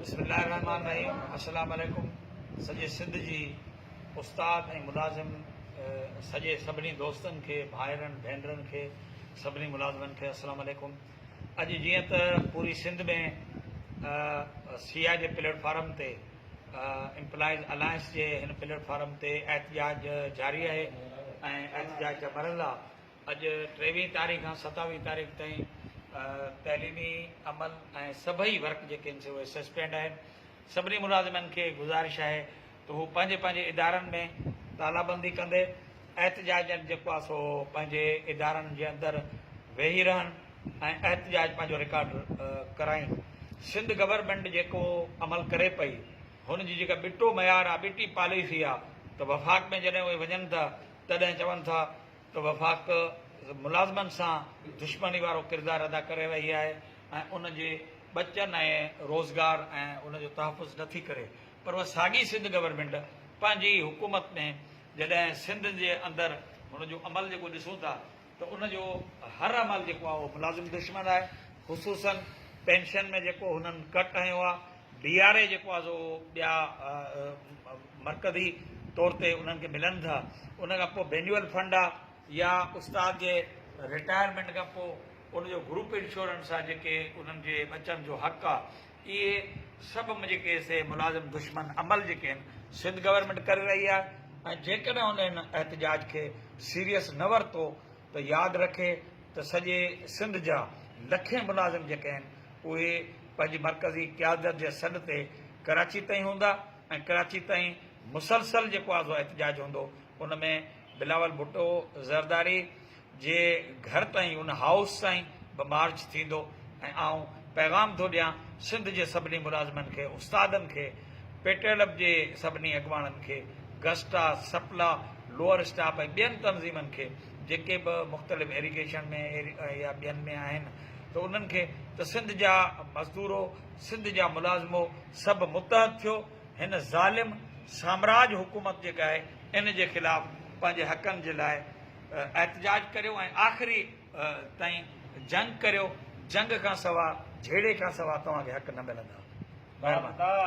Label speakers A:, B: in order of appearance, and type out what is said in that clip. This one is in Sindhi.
A: بسم الله الرحمٰن الرحيم السلام عليڪم سڄي سنڌ جي استاد ۽ ملازم سڄي سڀني دوستن کي ڀائرن ڀينرن کي سڀني ملازمن کي السلام عليڪم اڄ جيئن ته پوري سنڌ ۾ سي آء جي پليٽ فارم تي امپلائيز الائنس جي هن پليٽ فارم تي احتجاج جاري آهي ۽ احتجاج جا مرحلا اڄ ٽيويهين تاريخ کان ستاويهين تاريخ تائين تعليمي عمل ۽ سڀئي ورڪ جيڪي آهن سي اهي سسپينڊ آهن سڀني ملازمن کي گذارش آهي ته هو پنهنجي پنهنجي ادارن ۾ تالابندي ڪندي احتجاجن جيڪو آهي سو پنهنجي ادارن جي اندر ويهي رهن ۽ احتجاج پنهنجو رڪارڊ ڪرائين سنڌ گورنمينٽ جيڪو عمل ڪري پئي هن جي جيڪا ٻٽو معيار آهي ٻٽي پاليسي آهي ته وفاق ۾ جڏهن اهي وڃن ٿا تڏهن چون ٿا ته وفاق ملازمن سان دشمني وارو ڪردار ادا ڪري رهي آهي ۽ ان جي ٻچن ۽ روزگار ۽ ان جو تحفظ نٿي ڪري پر اها ساڳي سنڌ گورنمينٽ پنهنجي ئي حڪومت ۾ جڏهن سنڌ جي اندر هن جو عمل جيڪو ڏسون ٿا ته ان جو هر عمل جيڪو آهي اهو ملازم دشمن آهي خصوصن پينشن ۾ جيڪو هنن ڪٽ هنيو آهي ڊي آر اي جيڪو آهي سو ٻيا مرڪزي طور تي انهن کي ملن ٿا ان کان پوء بينيول فنڊ آهي يا استاد جي رٽائرمينٽ کان پوء ان جو گروپ انشورنس آهي جيڪي انهن جي ٻچن جو حق آهي اهي سڀ جيڪي سي ملازم دشمن عمل جيڪي آهن سنڌ گورنمينٽ ڪري رهي آهي ۽ جيڪڏهن انهن احتجاج کي سيريس نه ورتو ته ياد رکي ته سڄي سنڌ جا لکين ملازم جيڪي آهن اهي پنهنجي مرڪزي قيادت جي سڏ تي ڪراچي تائين هوندا ۽ ڪراچي تائين مسلسل جيڪو آزو احتجاج هوندو ان ۾ بلاول ڀٽو زرداري جي گهر تائين ان هائوس تائين به مارچ ٿيندو ۽ آئون پيغام ٿو ڏيان سنڌ جي سڀني ملازمن کي استادن کي پيٽرلپ جي سڀني اڳواڻن کي، گسٽا، سپلا، لوئر اسٽاپ ۽ ٻين تنظيمن کي جيڪي به مختلف ايريگيشن ۾ يا ٻين ۾ آهن ته انهن کي ته سنڌ جا مزدورو سنڌ جا ملازمو سڀ متحد ٿيو هن ظالم سامراج حڪومت جي ڳائي ان جي خلاف پنهنجي حقن جي لاء احتجاج ڪريو ۽ آخري تائين جنگ ڪريو جنگ کان سوا جهيڙي کان سوا توهان کي حق نه ملندا مهرباني.